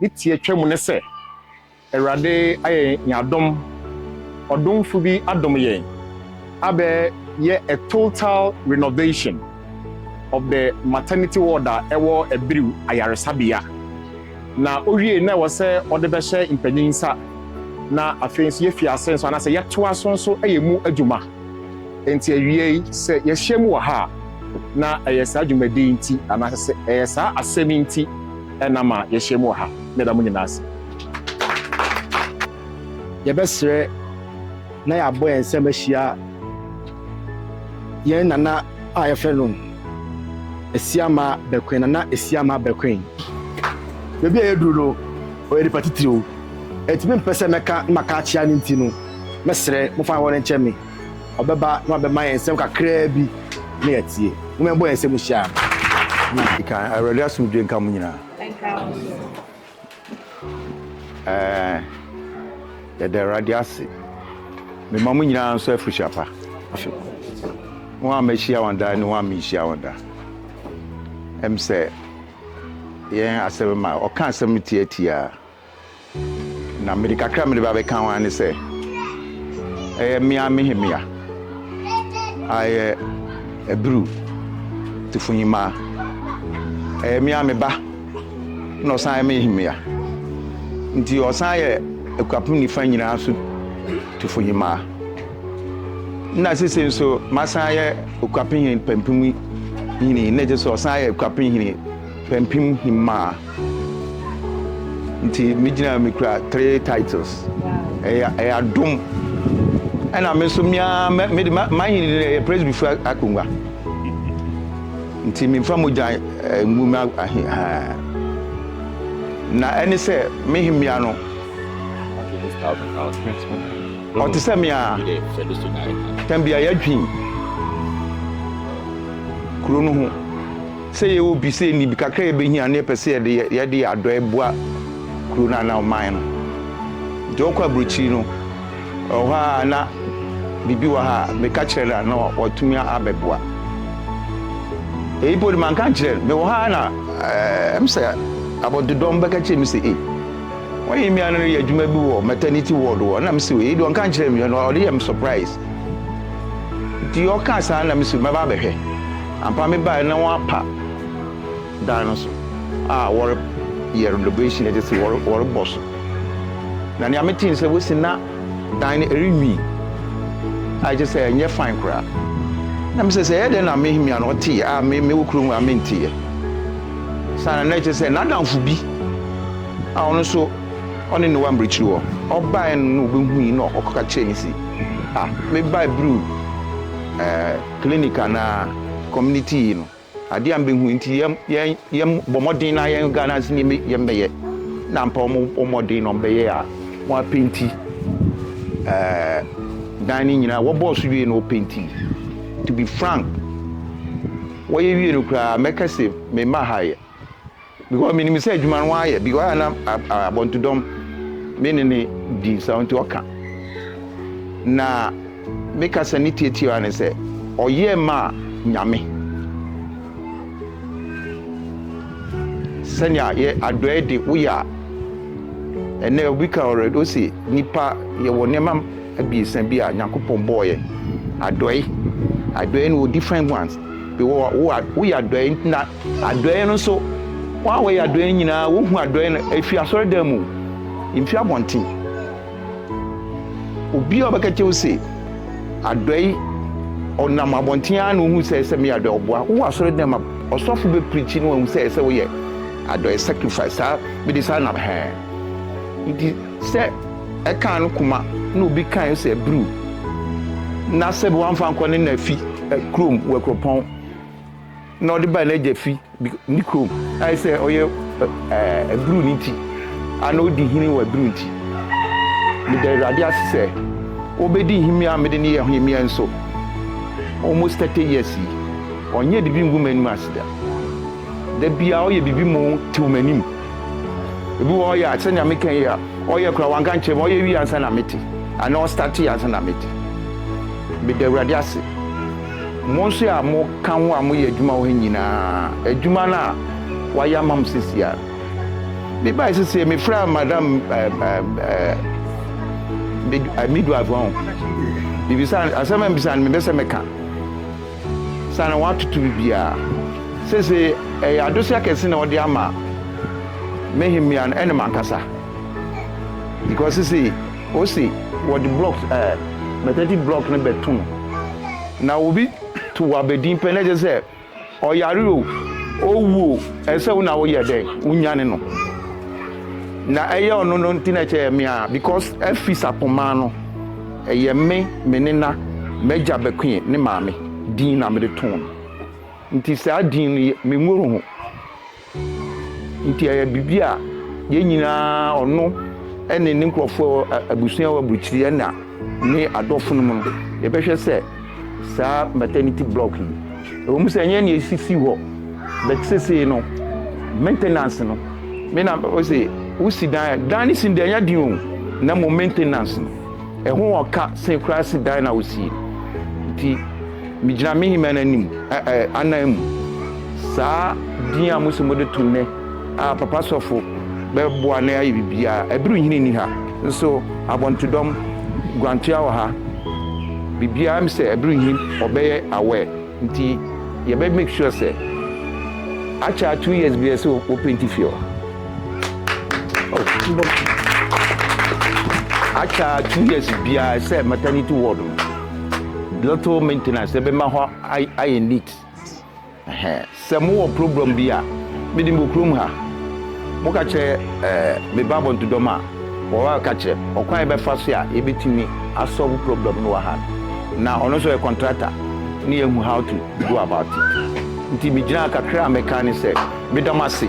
ne tiatwa mu ne sɛ, Awurade ayɛ yɛn adom, ɔdomfo bi adom yɛn abɛ yɛ a total renovation of the maternity ward a ɛwɔ Abiriw Ayaresabea. Na owiei na ɛwɔ sɛ ɔde bɛhyɛ mpanyin nsa na afei nso yɛafi ase nso anaasɛ yɛtoa so nso yɛ mu adwuma. Enti awiei sɛ yɛahyia mu wɔ ha a, na ɛyɛ saa dwumadi yi nti anaasɛ ɛyɛ saa asɛm yi nti. na ma yɛahyia mu wɔ ha. Meda mo nyinaa ase. Yɛbɛsrɛ na yɛabɔ yɛn nsam ahyia yɛn nana a yɛfrɛ no Asiama Bɛkoen, Nana Asiama Bɛkoen. Baabi a yɛaduru no, ɔyɛ nipa titiriw. Ɛnti mempɛ sɛ mɛka na maka akyea ne nti no, mɛsrɛ mofa hɔ no nkyɛ me. ɔbɛba na wabɛma yɛn nsɛm kakraa bi na yɛatie. Momma yɛmbɔ yɛn nsam nhyia no. Di kan, Awurade asomdwoe nka mo nyinaa. Ɛnka wo nso. Ɛɛ, yɛda Awurade ase. Mema mo nyinaa nso afihyia pa. Wɔn a mahyia wɔn da ne wɔn a menhyia wɔn da. Ɛm sɛ yɛn asɛm ma ɔka asɛm no tiatiaa. Na mede kakra a mede ba bɛka ho ara ne sɛ, ɛyɛ me ara me hemmea a ɛyɛ Abiru Tufunyima. Ɛyɛ me ara me ba na ɔsan yɛ me hemmea. Nti ɔsan yɛ Akuapem Nifa nyinaa so Tufunyima. Na sese nso masan yɛ Okuapem Hene Pampim Hene na ɛkyerɛ sɛ ɔsan yɛ Akuapem Hene Pampim Hemmaa nti me gyina ha me kura three titles ɛyɛ ɛyɛ adom ɛna me nso me ara mɛ me de ma ma ahene de ɛyɛ presbyfo akonnwa nti memfa mogya eh, ngu me ahe haa na ɛne sɛ me hemmea no ɔte sɛ me a tɛm bia yɛadwen kuro no ho sɛ yɛyɛ obi sɛ yɛnni bi kakra a yɛbɛhia na yɛpɛ sɛ yɛde yɛ yɛde yɛ adɔe boa kuro no anaa ɔman no nti wɔkɔ aburokyiri no ɛwɔ hɔ a na biribi wɔ ha a meka kyerɛ no a na watumi abɛboa eyi po de manka nkyerɛ no mewɔ ha na ɛm eh, sɛ abɔdodɔm bɛka kyerɛ me sɛ ei wɔyɛ mmea no yɛ adwuma bi wɔ maternity ward wɔ na mesɛ ei de ɔnka nkyerɛ me ɔde yɛ me surprise nti ɔka saa na mesɛ mɛba abɛhwɛ Ampa me bae na wɔn apa dan no so a wɔre yɛ renovation ɛte se wɔre wɔre bɔ so na nea me te ne sɛ wosi na dan no ɛre nwi a ɛte sɛ ɛnyɛ fine koraa na me sɛ sɛ ɛyɛ dɛn na me hemia no ɔte a me me wɔ kuro mu a me nte yɛ saa na na ɛte sɛ n'adamfo bi a ɔno nso ɔne ne wa mbrikyiri wɔ ɔbae no na obehui na ɔkɔka kyerɛ ne si ah me bae biriw ɛɛ. clinic anaa community yi no adeɛ a mbɛhu nti yɛn yɛn yɛn bɔ mmɔden na yɛn Ghana si nneɛma yɛn bɛyɛ na mpa wɔn bɔ mmɔden na wɔn bɛyɛ a wɔn apenti ɛɛ dan no nyinaa wɔbɔɔ so wie na wɔpenti to be frank wɔyɛ wie no koraa mɛka se mema ha yɛ. Because me nim sɛ adwuma no wayɛ because ayɛ na abɔntodɔm me ne ne di nsa nti ɔka na me kasa ne tietie ara ne sɛ ɔyɛ ma nyame sɛnea yɛ adɔɛ de woyɛ a ɛnɛ obi ka already o se nipa yɛwɔ nneɛma abiesa bi a nyankopɔn bɔɔyɛ adɔe adɔe no wɔ different ones bi wɔ woyɛ adɔe na Adɔe no nso, wɔn a wɔyɛ adɔe nyinaa, wohu adɔe no efi asɔredan mu, emfi abɔnten. Obi a ɔbɛka kyerɛ wo se adɔe, ɔnam abɔnten ara na ohu sɛ ɛsɛ meyɛ adɔe. Ɔboa wowɔ asɔredan mu, ɔsɔfo bɛpirikyi na wahu sɛ ɛsɛ woyɛ adɔe, sacrifice. Saa mede saa nam hɛɛ. Nti sɛ ɛkaa no koma na obi kae no sɛ abirew na sɛ wamfa ankɔ ne na fi kurom wɔ akuropɔn, na ɔde baa n'agya fi ne kurom. Ayɛ sɛ ɔyɛ abiruu no nti, ana odi hene wɔ abiruu nti? Meda Awurade ase sɛ obedi nhemia a mede no yɛ hemia nso. Almost thirty years yi, ɔnyɛɛ biribi nguu m'anim ase da. Da biara ɔyɛ biribi ma ɔtew m'anim. Ebi wɔ hɔ ɔyɛ a, sɛnea meka yi a, ɔyɛ koraa wanka nkyerɛ me, ɔyɛ wie ansa na mete, anaa ɔstartee ansa na mete. Meda Awurade ase Mo nso a moka ho a moyɛ adwuma wɔ ha nyinaa, adwuma no a wɔayɛ ama mo seesei a. Mebae seesei, mefrɛɛ Madam midwife hɔ. Mebisa, asɛm a mebisa no, mepɛ sɛ meka. Sɛ na wɔatoto biribiara. Seesei, ɛyɛ adesua kɛse na wɔde ama me hemmea no ne m'ankasa. Because seesei, Ose wɔde blocks ɛɛ maternity block no bɛto no. Na obi to w'abadin pɛ na ɛkyɛ sɛ ɔyare o, owu o, ɛsɛ sɛ wo na woyɛ dɛ wonyane no. Na ɛyɛ ɔno no nti na ɛkyɛ yɛ me a because afi Sapoma no ɛyɛ me, me nena, m'agya Bekoe ne maame din na mede too no. Nti saa din no yɛ me nworoho. Nti ɛyɛ biribi a yɛn nyinaa, ɔno ne ne nkurɔfoɔ a ɛwɔ abusua a ɛwɔ aburukyiri ɛna ne adɔfo nom no, yɛbɛhwɛ sɛ saa maternity block yi, ɛwɔ mu sɛ ɛnyɛ nea esisi hɔ, but sesei no maintenance no, me na ɔse wosi dan a, dan no si no deɛ ɛnyɛ den o, na mmom maintenance no. Ɛho wɔ ka sen koraa se dan na wosie. Nti megyina me hemman anim, ɛ, ɛ, anan mu. Saa din a mose mode to nnɛ a Papa Sɔfo bɛboa na yɛayɛ biribiara. Aduru nhini nni ha, nso abɔntodɔm, guantoa wɔ ha. Biribiara, mese aduru nhini, wɔbɛyɛ aware. Nti yɛbɛ make sure sɛ akyɛ two years bi ɛsɛ wɔ painti fie hɔ. Akyɛ two years biara sɛ maternity ward no little maintenance ɛbɛma hɔ ayɛ neat. Sɛ mo wɔ program bi a me de me wɔ kurom ha, mo ka kyerɛ eh me ba abɔntodɔm a, wɔ a ka kyerɛ me ɔkwan a yɛbɛ fa so a yɛ bɛ tumi a solve program no wɔ ha no. Na ɔno nso ɔyɛ contractor ne yɛ hu how to go about it. Nti me gyina ha kakra a me ka ne sɛ me da mo ase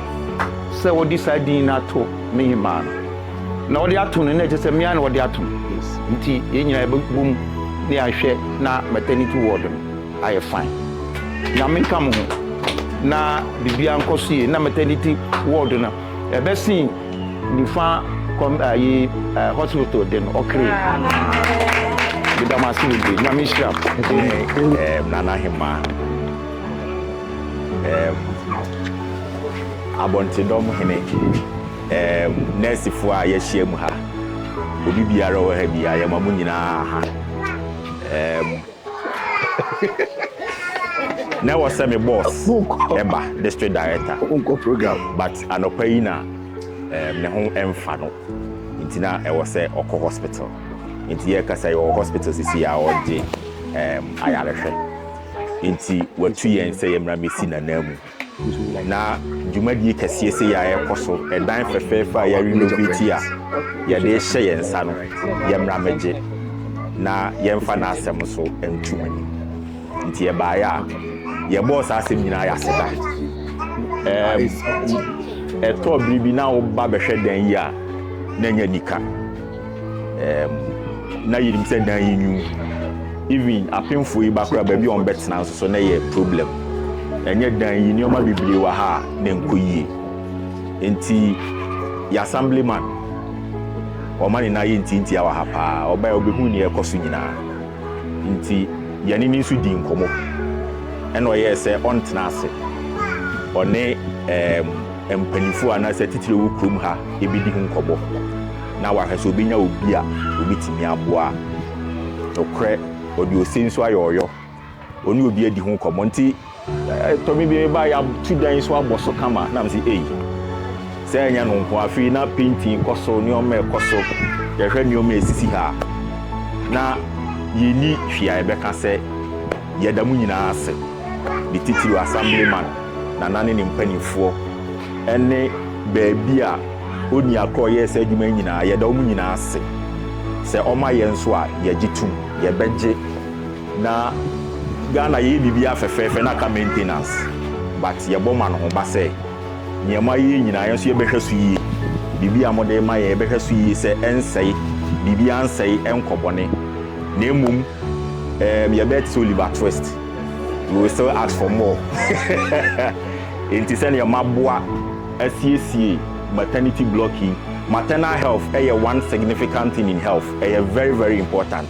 sɛ wɔ de saa din no ato me hemaa no. Na wɔ de ato no na ɛkyɛ sɛ me ara na wɔ de ato no. Nti yɛ nyinaa yɛ bɛ bom na yɛ ahwɛ na maternity ward no. ayɛ fine nyame nka mo ho na biribiara nkɔ so yie na maternity ward no ɛbɛsen nifa kɔm ayi eh, hospital de no ɔkere meda mo ase bebree nyame nhyira mo eh, nana hema eh, abɔntedɔm hene eh, nɛɛsefoɔ a yɛahyia mu ha obi biara wɔ ha biara yɛma mo nyinaa ha eh, na ɛwɔ sɛ me boss ɛba district director wonkɔ program but anɔpa yi na eh, ne ho ɛmfa no nti na ɛwɔ sɛ ɔkɔ hospital nti yɛkasa yɛwɔ hospital sisi a ɔgye um, ayarehwɛ nti watu yɛn sɛ yɛmmra mɛsi nanaa mu Na dwumadie kɛseɛ sei a ɛrekɔ so, ɛdan fɛfɛɛfɛ a yɛ renovate a yɛde rehyɛ yɛn nsa no, yɛmmra mmɛgye na yɛmfa n'asɛm nso nto mo anim. Nti yɛbaeɛ a, yɛbɔɔ saa asɛm nyinaa yɛ aseda. Ɛɛ, ɛtɔ bere bi na woba bɛhwɛ dan yi a, na ɛnyɛ anika. um, na yɛnim sɛ dan yi nwu even apemfo yi bakora baabi a wɔbɛtena nso so na ɛyɛ problem ɛnyɛ dan yi nneɛma bebree wɔ ha a na nkɔ yie nti yɛ assemblyman ɔma ne nan yɛ ntiantia wɔ ha paa ɔbɛyɛ ɔbɛhu nea ɛkɔ so nyinaa nti yɛne ne nso di nkɔmmɔ ɛna ɔyɛɛ sɛ ɔntena ase ɔne um, mpanimfoɔ anaasɛ titire wɔ kurom ha ɛbɛdi ho nkɔmmɔ na wahwɛ sɛ obenya obi a obetumi aboa. Nokorɛ, ɔde ose nso ayɛ ɔyɔ. Ɔne obi adi ho nkɔmmɔ. Enti, ɛtɔ me bi a, meba a, yɛatu dan yi so abɔ so kama, na mese, Ei, sɛ ɛnyɛ no nko a. Afei na painting kɔ so, nneɛma rekɔ so. Yɛhwɛ nneɛma a esisi ha a, na yenni hwee a yɛbɛka sɛ yɛda mo nyinaa ase, ne titiriw Assemblyman Nana ne ne mpanimfoɔ, ne baabi a. Onua koro yɛɛ saa adwuma yi nyinaa. Yɛda wɔn nyinaa ase. Sɛ wɔma yɛn nso a, yɛgye tom. Yɛbɛgye. Na Ghana yɛyɛ biribiara fɛfɛɛfɛ na aka maintenance. But yɛbɔ ma no ho ba sɛ nea moayɛ yi nyinaa yɛn nso yɛbɛhwɛ so yie. Biribi a mode rema yɛn, yɛbɛhwɛ so yie sɛ ɛnsɛe. Biribiara nsɛe, ɛnkɔ bɔne. Na mmom um yɛbɛyɛ te sɛ Oliver Twist. We will still ask for more. Enti sɛnea moaboa. asiesie maternity block yi maternal health yɛ one significant thing in health ɛyɛ very very important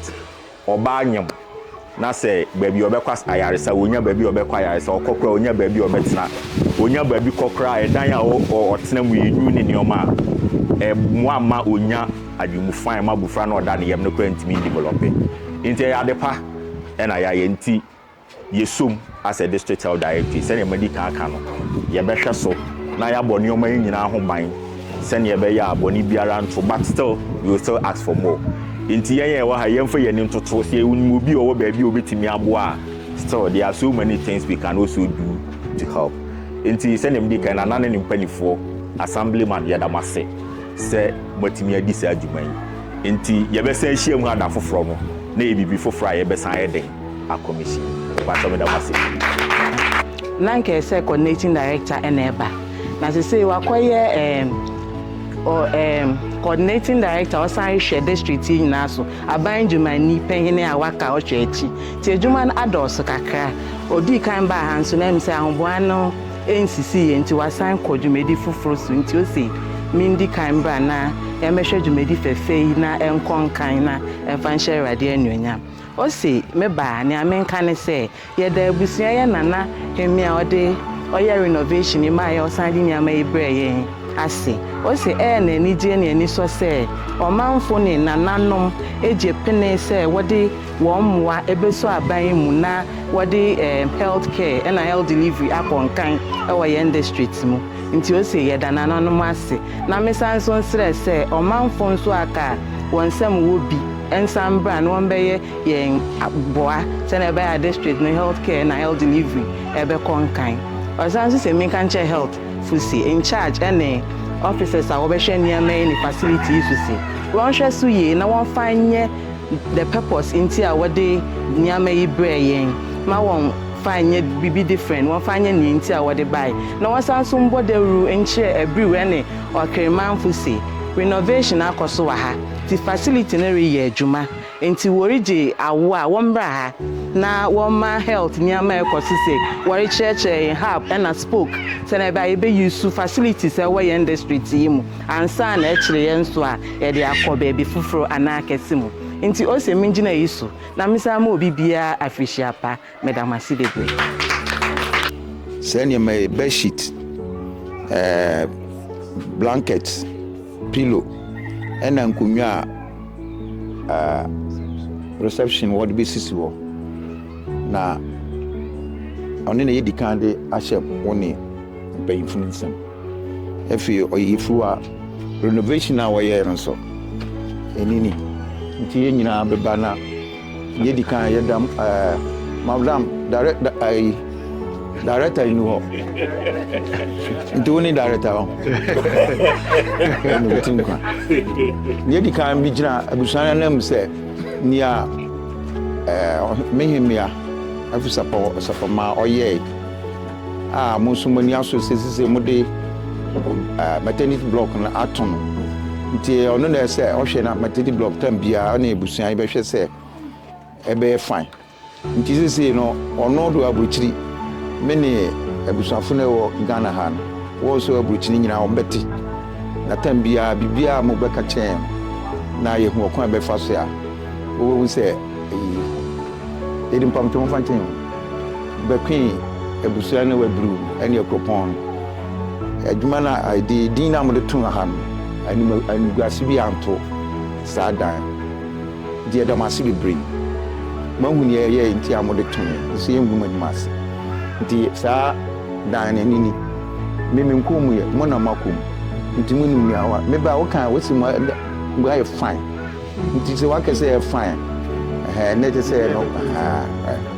ɔbaa nyam na sɛ baabi ɔbɛkɔ ayaresa ɔnya baabi ɔbɛkɔ ayaresa ɔkɔ koraa ɔnya baabi ɔbɛtena ɔnya baabi kɔ koraa ɛdan a ɔtena mu yɛ nyu ne nneɛma a ɛmoa ma ɔnya adwemu fine ma abofra na ɔda ne yam no koraa ntumi develop nti ɛyɛ adepa ɛna yɛayɛ nti Yɛsom as a District Health Directorate, sɛdeɛ madi kan aka no, yɛbɛhwɛ so na yɛabɔ nneɛma yi nyinaa ho ban sɛdeɛ ɛbɛyɛ a bɔne biara nto but still we will still ask for more. Nti yɛn a yɛwɔ ha yi yɛmfa yɛn ani ntoto, sɛ yɛnim obi a ɔwɔ baabi a ɔbɛtumi aboa a still there are so many things we can also do to help. Nti sɛdeɛ medi kan no, Nana ne ne mpaninfoɔ, Assemblyman yɛda mo ase sɛ moatumi adi saa dwuma yi. Nti yɛbɛsan ahyiam ha da foforɔ no na ɛyɛ biribi foforɔ a yɛbɛsan ayɛ dɛn akɔmisi. Mpakyɛw meda mo ase. Na nka ɛsɛ sɛ coordinating director na ɛba na sesei wakɔyɛ ɛɛm ɔ ɛɛm coordinating director ɔsan hwɛ district yi nyinaa so aban adwumani panyin a waka ɔhwɛ akyi nti adwuma no adɔɔso kakra odii kan baa ha nso na ɛm sɛ ahoboa no ɛnsisi yɛ nti wasan kɔ dwumadi foforo so nti ose mendi kan bra na yɛmmɛhwɛ dwumadi fɛfɛ yi na ɛnkɔ nkan na ɛmfa nhyɛ awurade anuonyam. Ose, Me ba, nea menka ne sɛ, yɛda abusua yɛ Nana Hemie a ɔde ɔyɛ renovation yi maaeɛ a ɔsan de nneɛma yi brɛɛ yɛn ase. Ose, Ɛyɛ no anigyeɛ ne anisɔ sɛ ɔmanfo ne Nananom agye pene sɛ wɔde wɔn mmoa bɛsɔ aban yi mu na wɔde health care na health delivery akɔ nkan wɔ yɛn district mu. Nti ose, yɛda Nananom ase. Na mesan nso nsrɛ sɛ ɔmanfo nso a ka wɔn nsam wɔ bi, nsan mbra na wɔmbɛyɛ yɛn aboa sɛnea ɛbɛyɛ a district no health care na health delivery ɛbɛkɔ nkan. Ɔsan nso sɛ menka nkyerɛ health fo se, in charge ɛne officers a wɔbɛhwɛ nneɛma yi ne facility yi so se, wɔnhwɛ so yie na wɔmfa nyɛ the purpose nti a wɔde nneɛma yi brɛɛ yɛn, ma wɔmfa nyɛ biribi different, wɔmfa nyɛ nea nti a wɔde bae. Na wɔnsan nso mbɔ dawuru nkyerɛ Abriew ɛne Ɔkere manfo se, renovation akɔ so wɔ ha. Nti facility no reyɛ adwuma nti wɔregye awoɔ a wɔmmra ha na wɔmma health nneɛma a ɛkɔ so sɛ wɔrekyerɛkyerɛ yɛn hub ɛna spoke sɛnea ɛbɛa yɛbɛ use facilities a ɛwɔ yɛn district yi mu ansa na ɛkyere yɛn nso a yɛde akɔ baabi foforɔ anaa kɛse mu nti ose mengyina yi so na mesan ma obi biara afirihyia pa. Meda mo ase bebree. Saa nneɛma yi, bedsheet, eh, blanket, pillow, ɛna nkonnwa a uh, reception wɔde bɛsisi hɔ na ɔne na yɛdi kan de ahyɛ wo ne mpanyimfo no nsam afei ɔyɛfiri a renovation a wɔyɛɛ no nso ɛnini nti yɛn nyinaa bɛba na Deɛ di kan yɛ dam ɛɛ eh, madam dare da ɛyi eh, director yi ni hɔ nti wo ni director hɔ ɛna obi ti nkwa deɛ di kan bi gyina abusua no anam sɛ nea ɛɛ eh, mehemea afisapɔ sapɔ ma ɔyɛɛ. A mo nso mo ani asɔ sɛ sisei mo de maternity block no ato no nti ɔno na ɛsɛ ɔhwɛ na maternity block tam biara ɔne abusua yi bɛhwɛ sɛ ɛbɛyɛ fine nti sisei no ɔno do aburukyiri me ne abusuafo no ɛwɔ Ghana ha no wɔn nso aburukyiri nyinaa wɔn bɛte na tam biara biribiara mo bɛka kyerɛ yɛn na yɛhu ɔkwan bɛfa so a wɔbɛhu sɛ ɛyi yɛde mpamtɔmfa nkyɛn bɛtwee abusua no abiriw ne kuropɔn no. Adwuma no a ɛde din a wɔde too ha no, anim animguase biara anto saa dan no. Enti yɛda mo ase bebree. Moahu nea ɛyɛe nti a mode too yɛn, nso yengu mo anim ase. Enti saa dan no, ɛno ni. Me menkɔɔ mu ɛ, mo na moakɔ mu. Enti munim nea wɔayɛ. Me ba, wokae a, wosi mo ayɛ fine. Enti sɛ woaka sɛ ɛyɛ fine a, ɛhɛɛ, na ɛkyerɛ sɛ ɛyɛ no, ɛhɛɛ.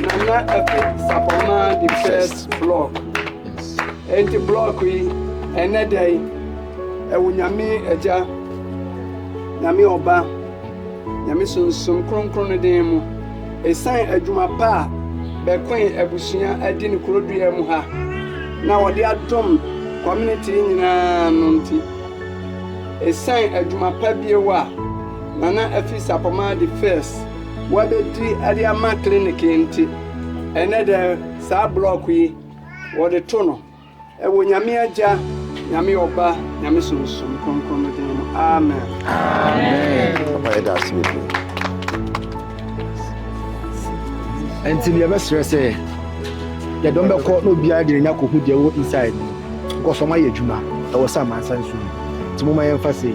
Nana Efe Sapɔmaa the first block. Enti block yi ɛnɛ da yi ɛwɔ Nyame Agya, Nyame Ɔba, Nyame Sunsum Kronkron no den mu. Ɛsan adwuma pa a bɛkoe abusua adi ne kurodua mu ha na wɔde adom community nyinaa no nti. Ɛsan adwuma pa bio a Nana Afi Sapɔmaa de fɛs wɔabedi de ama clinic yi nti, ɛnnɛ dɛ saa blɔk yi wɔde to no wɔ Nyame Agya, Nyame Ɔba, Nyame Sunsum Kronkron no din mu, amen. Papa yɛda ase bebree. Ɛnti no yɛbɛsrɛ sɛ yɛdɔm bɛkɔ na obiara de n'anya kɔhu deɛ wɔ inside no, because wɔayɛ adwuma ɛwɔ sɛ amansan so mu, nti moma yɛmfa sei.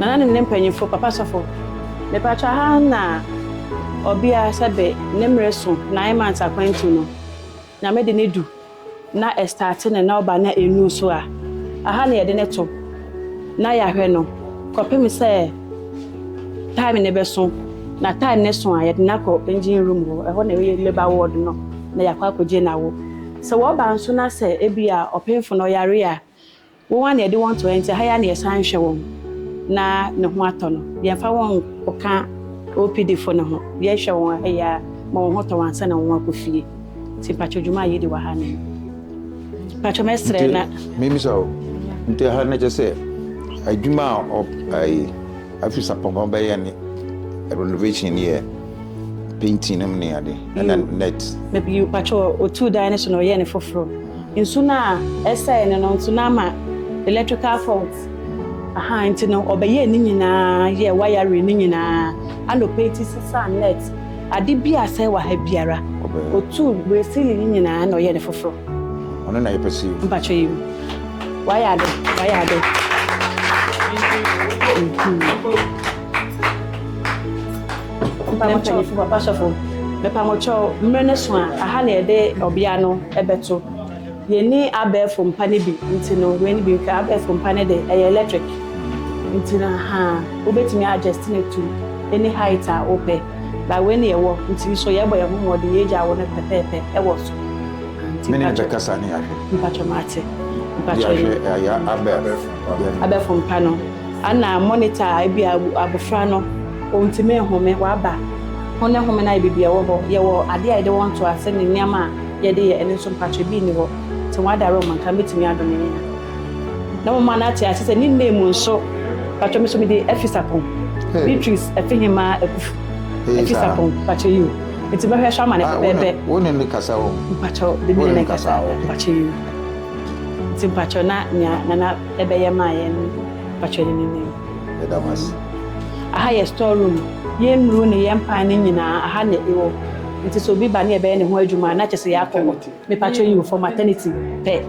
Nana ne ne mpanyimfo, Papa sɔfo, mepatwa ha na ɔbea sɛbe ne mmere so nine months akwantu no, Nyame de no du na ɛstate no na ɔba na ɛnnu so a, aha na yɛde no to na yɛahwɛ no kɔpem sɛ time no bɛso, na time no so a yɛde no akɔ engine room hɔ, ɛhɔ na ɛyɛ labour ward no, na yɛakɔ akɔgye no awo. Sɛ wɔba nso na sɛ ebia ɔpemfo no ɔyare a, Wɔn a na yɛde wɔn to hɔ nti, ɛha yi ara na yɛsan hwɛ wɔn na ne ho atɔ no. Yɛmfa wɔn nkɔka OPDfo no ho. Yɛhwɛ wɔn ɛha yi ara ma wɔn ho tɔ wɔn ansa na wɔakɔ fie. Nti mpakyɛw dwuma a yɛdi wɔ ha no, mpakyɛw mɛsrɛ na. Nti memmisa wo, nti ɛha no kyerɛ sɛ adwuma a ɔp ɛyi afis apɔnkɔ bɛyɛ ne renovation ne yɛ painting nom ne ade ɛna net. Bio, mpakyɛw otuu dan no so na ɔyɛɛ no foforo. Nsu no a ɛsɛe no no nso na ama electrical fault. Aha nti no ɔbɛyɛɛ ne nyinaa yɛɛ wiring no nyinaa. Anɔpa yi ti sesaa net. Ade bi a asɛe wɔ ha biara otuu bere ceiling no nyinaa na ɔyɛɛ no foforo. Ɔno na yɛpɛ sɛ yɛhu. Mpakyɛ yi mu. Wayɛ ade, wayɛ ade. papa sɔfo mepamokyɛw mmerɛ no so a aha na yɛde ɔbea no ɛbɛto yɛni abɛɛfo mpa no bi nti no wei no bi nka abɛɛfo mpa no de ɛyɛ electric nti no ha wobɛtumi adjust no to any height a wopɛ ba wei no yɛwɔ nti so yɛbɔ yɛn ho mmɔden yɛgya wo no pɛpɛɛpɛ ɛwɔ so mene bɛkasa ne ahwɛ mpatwɔ mate mpatwɔ abɛɛfo mpa no Ana monitor a ebia abofra no ontumi nhome, waba, ho ne home no ayɛ biribi a ɛwɔ hɔ. Yɛwɔ ade a yɛde wɔn to ase ne nneɛma a yɛde yɛ, ɛno nso mpatwɛ bi nni hɔ. Te wɔn adare wɔn nka, mɛtumi adɔ ne nea. Na moma no ate ase sɛ ne nna mu nso, mpatwɛ me so mede Afisapon, Beatrice Afihemaa Akufu, Afisapon, mpatwɛ yi o, nti mɛhwɛ so ama no pɛpɛɛpɛ. Wo ne no kasa o. Mpatwɛ, de me ne no nkasa o, mpatwɛ yi o, nti mpatwɛ na nea Nana. ɛbɛyɛ maa yɛn no pakyɛ ne no nim. Yɛda mo ase. Aha yɛ store room. Yɛn nnuru ne yɛn pan no nyinaa aha na ɛwɔ. Nti sɛ obi ba ne yɛbɛyɛ ne ho adwuma a na kyɛ sɛ yɛakɔ hɔ. Mepakyɛ yi o for maternity pɛ.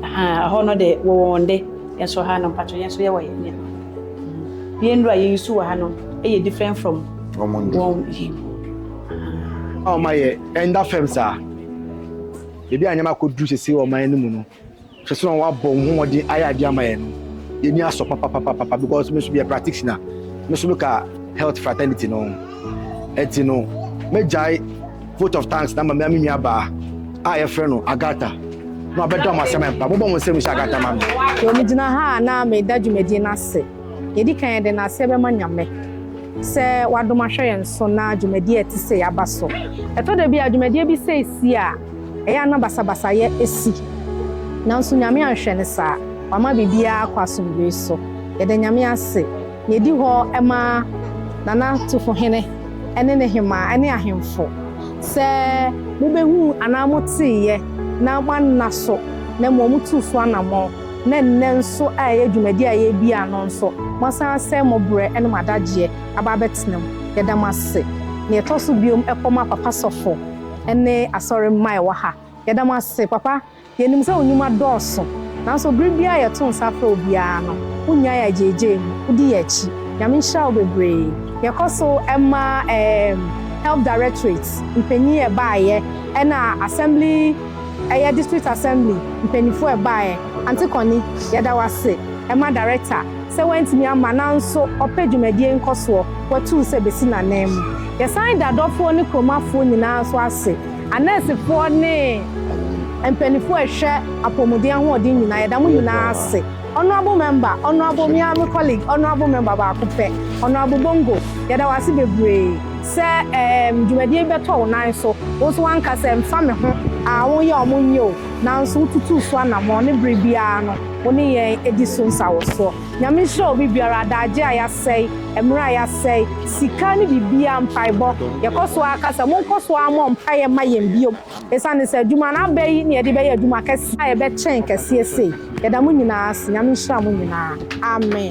Aha ɛhɔ no de wɔ wɔn de. Yɛn nso ha no mpakyɛ yɛn nso yɛwɔ yɛn nneɛma. Yɛn nnuru a yɛyi so wɔ ha no ɛyɛ different from wɔn nnuru. Wɔn ayɛ ɛnda fam saa. Ebi a nneɛma akɔduru sese wɔ ɔman no mu no. Hwɛ sɛnea wɔabɔ wɔn ho mmɔden ayɛ ade ama yɛn no, yɛn ani asɔ papapapapa because me nso meyɛ practitioner, me nso meka health fraternity no ho. Ɛnti no, mɛgyae vote of thanks no ama me nua baa a yɛfrɛ no Agatha na wabɛda wɔn asɛm mpa. Mobɔ mo nsam nhyɛ Agatha ma me. Wɔ me gyina ha a na meda dwumadie no ase. Yɛdi kan yɛde naseɛ bɛma Nyame sɛ wadom ahwɛ yɛn so na dwumadie a ɛte sei aba so. Ɛtɔ da bi a dwumadie bi sei si a, ɛyɛ a na basabasayɛ si. Nanso Nyame anhwɛ no saa. Wama biribiara akɔ asomdwoe so. Yɛda Nyame ase. Nea edi hɔ ma Nana Tufohene ne ne hemmaa ne ahemfo, sɛ mobɛhuu anaa moteeɛ na moanna so, na mmom motuu so anammɔn, na nnɛ nso a ɛyɛ dwumadie a yɛredi a no nso, moasan asɛe mo berɛ ne mo adagyeɛ aba abɛtena mu. Yɛda mo ase. Nea ɛtɔ so bio, ɛkɔma Papa Sɔfo ne Asɔre mma a ɛwɔ ha. Yɛda mo ase, Papa. Yenim sɛ wo nnwuma dɔɔso, nanso bere biara a yɛto nsa frɛ wo biara no, wunnyae agyeigyei mu, wudi yɛn akyi. Nyame nhyira wo bebree. Yɛkɔ so ma ɛɛm Health Directorate mpanyin a ɛbaeɛ, ɛna Assembly, ɛyɛ District Assembly mpanyinfoɔ a ɛbaeɛ, Ante Connie, yɛda wo ase, ɛma Director. Sɛ wantumi amma nanso ɔpɛ dwumadie nkɔsoɔ, watuu sɛ bɛsi n'ananmu. Yɛsan da dɔfoɔ ne kuromafoɔ nyinaa nso ase, anɛɛsefoɔ ne mpanifoɔ a ɛhwɛ apɔmuden ahoɔden nyinaa, yɛda mo nyinaa ase. Honourable Member, Honourable me ara me colleague, Honourable Member baako pɛ, Honourable Bongo, yɛda wo ase bebree sɛ ɛɛm dwumadie yi bɛtɔ wo nan so. Wo nso woanka sɛ mfa me ho, aa wonyɛ a wɔnyɛ o, nanso wotutuu so anamɔn ne bere biara no. Wo ne yɛn di so nsawosoɔ. Nyame nhyira obi biara, adagye a yɛasɛe, mmerɛ a yɛasɛe, sika ne biribiara, mpaebɔ. Yɛkɔ so ara ka sɛ monkɔ so ara mmɔ mpaeɛ mma yɛn bio. Ɛsiane sɛ adwuma no aba yi na yɛde bɛyɛ adwuma kɛseɛ a ɛbɛkyɛn kɛseɛ sei. Yɛda mo nyinaa ase. Nyame nhyira mo nyinaa. Amen.